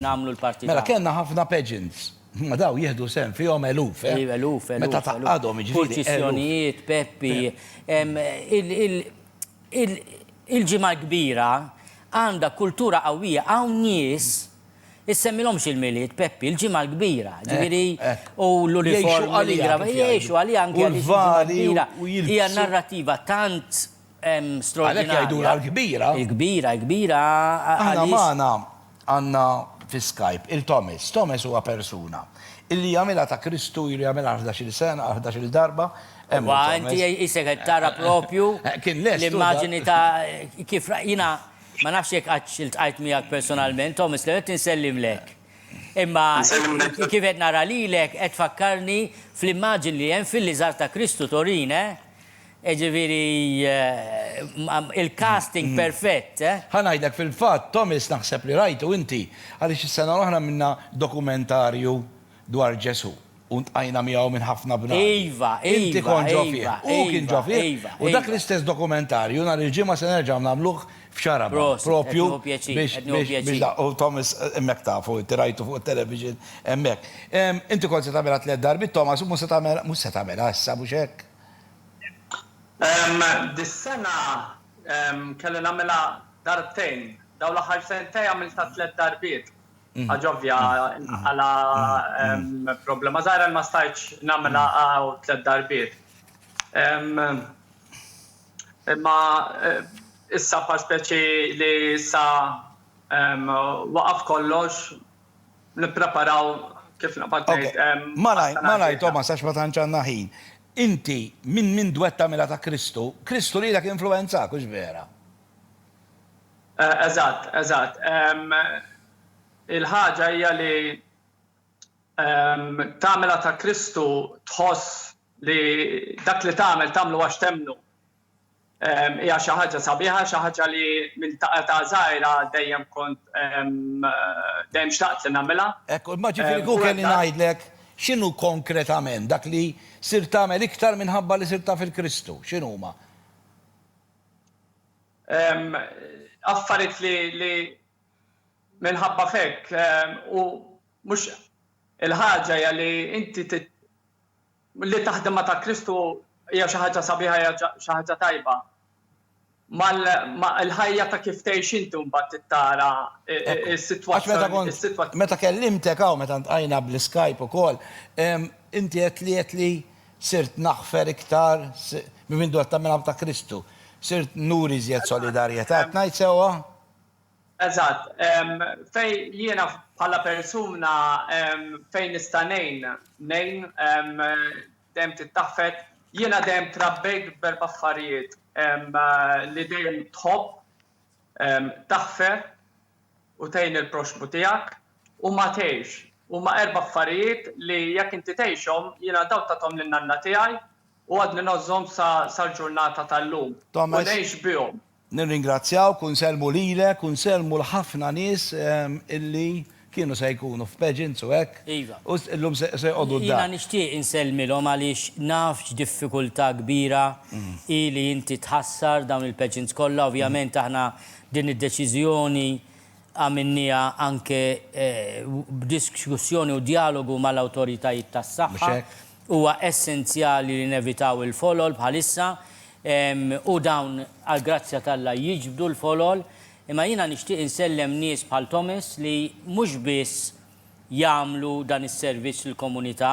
nagħmlu l-parti tagħna. Mela kellna ħafna pageants. Imma dawn jieħdu sehem fihom eluf, eh? Eluf, eluf, eluf. Meta tgħaqqadhom, jiġifieri. Purċissjonijiet, Peppi. Il-Ġimgħa l-Kbira għandha kultura qawwija, hawn nies issemmilhomx il-Milied, Peppi, il-Ġimgħa l-Kbira, ġifieri u l-uniformi. Jgħixu għaliha. Jgħixu għaliha anke għaliex il-Ġimgħa l-Kbira hija narrattiva tant. Għalhekk jgħidulha l-Kbira. Il-Kbira, il-Kbira għaliex. Aħna magħna għandna fi Skype il-Thomas. Thomas huwa persuna li jagħmilha ta' Kristu, ilu jagħmilha ħdax-il sena, għal ħdax-il darba. Imma inti qisek qed tara proprju l-immaġini ta' kif jiena ma nafx jekk qatt iltqajt miegħek personalment, Thomas, li qed insellimlek. Imma kif qed nara lilek qed tfakkarni fl-immaġini li hemm fil-liżar ta' Kristu Torin, eh? Jiġifieri il-casting perfett, eh? Ħa ngħidlek fil-fatt, Thomas naħseb li rajtu inti, għaliex is-sena l-oħra għamilna dokumentarju dwar Ġesù u ltqajna miegħu minn ħafna bnadi. Iva, iva, iva. Inti kont ġo fih, hu kien ġo fih, u dak l-istess dokumentarju nhar il-Ġimgħa se nerġgħu nagħmluh f'Xarabha, proprju biex nilħaqu Thomas hemmhekk tafu, inti rajtu fuq it-television hemmhekk. Inti kont se tagħmilha tliet darbiet Thomas u mhux se tagħmilha issa, mhux hekk? Dis-sena kelli nagħmilha darbtejn. Dawn l-aħħar sentej għamiltha tliet darbiet. Ħaġa ovvja, għala problema żgħira ma stajtx nagħmilha hawn tliet darbiet. Imma issa bħal speċi li issa waqaf kollox, nippreparaw kif naqbad ngħid. Malajr, malajr Thomas għax ma tantx għandna ħin. Inti minn minn dwett tagħmilha ta' Kristu, Kristu lilek influwenzak, hux vera? Eżatt, eżatt. Il-ħaġa hija li tagħmilha ta' Kristu tħoss li dak li tagħmel tagħmlu għax temmnu. Hija xi ħaġa sabiħa, xi ħaġa li minn ta' età żgħira dejjem kont dejjem xtaqt li nagħmilha. Hekk, imma ġifieri kieku kelli ngħidlek x'inhu konkretament dak li sirt tagħmel iktar minħabba li sirt taf il-Kristu, x'inhuma? Affarijiet li minħabba f'hekk u mhux il-ħaġa hija li inti Li taħdem ma' ta' Kristu hija xi ħaġa sabiħa, hija xi ħaġa tajba. Ma l-ħajja ta' kif tgħix inti mbagħad tittara s-sitwazzjoni. Meta kellimtek hawn, meta ltqajna bl-iskajp ukoll, inti għedtli għedt li sirt naħfer iktar minn mindu qed tagħmilha ma' ta' Kristu. Sirt nuri iżjed solidarjetà, qed ngħid sewwa? Eżatt. Fejn jiena bħala persuna fejn nista' ngħin, ngħin. Dejjem tittaħfet. Jiena dejjem trabbejt b'erba' affarijiet li dejjem tħobb, taħfer u tgħin il-proxxmu tiegħek u ma tgħix. Huma erba' affarijiet li jekk inti tgħixhom, jiena dawn tathom lil nanna tiegħi u għadni ngħożżhom sal-ġurnata tal-lum u ngħix bihom. Nirringrazzjawk u nsellmu lilek u nsellmu l-ħafna nies illi kienu se jkunu f'pageants u hekk u llum se joqogħdu d-dar. Jiena nixtieq insellmilhom għaliex naf x'diffikultà kbira hi li inti tħassar dawn il-pageants kollha. Ovvjament aħna din id-deċiżjoni għamilnieha anke b'diskussjoni u djalogu mal-awtoritajiet tas-saħħa Huwa essenzjali li nevitaw il-folol bħalissa u dawn għall-grazzja t'Alla jiġbdu l-folol, imma jiena nixtieq insellem nies bħal Thomas li mhux biss jagħmlu dan is-servizz lill-komunità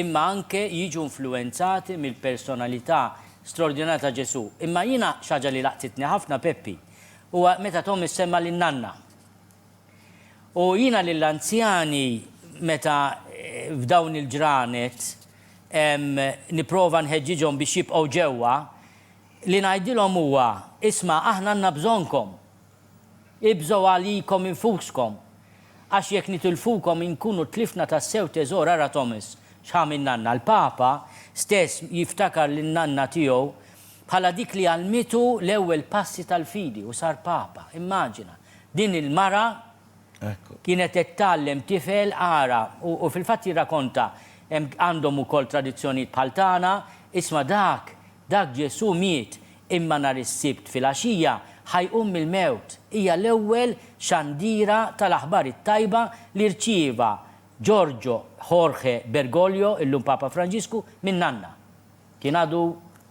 imma anke jiġu influwenzati mill-personalità straordinarja ta' Ġesù. Imma jiena xi ħaġa li laqtitni ħafna, Peppi, huwa meta Thomas semma lin-nanna. U jiena lill-anzjani meta f'dawn il-ġranet nipprova nħeġġiġhom biex jibqgħu ġewwa, li ngħidilhom huwa, isma' aħna għandna bżonnkom. Ibżgħu għalikom infuskom. Għax jekk nitilfukom inkunu tlifna tassew teżor ara Thomas x'għamil nanna. Il-Papa stess jiftakar lil nanna tiegħu bħala dik li għallmitu l-ewwel passi tal-fidi u sar Papa. Immaġina! Din il-mara kienet qed tgħallem tifel ara u u fil-fatt jirrakonta hemm għandhom ukoll tradizzjonijiet bħal tagħna, isma' dak, dak Ġesù miet imma nhar is-Sibt filgħaxija ħa jqum mill-mewt. Hija l-ewwel xandiera tal-aħbar it-tajba li rċieva Giorgio Jorge Bergoglio, illum Papa Franġisku, minn nanna. Kien għadu.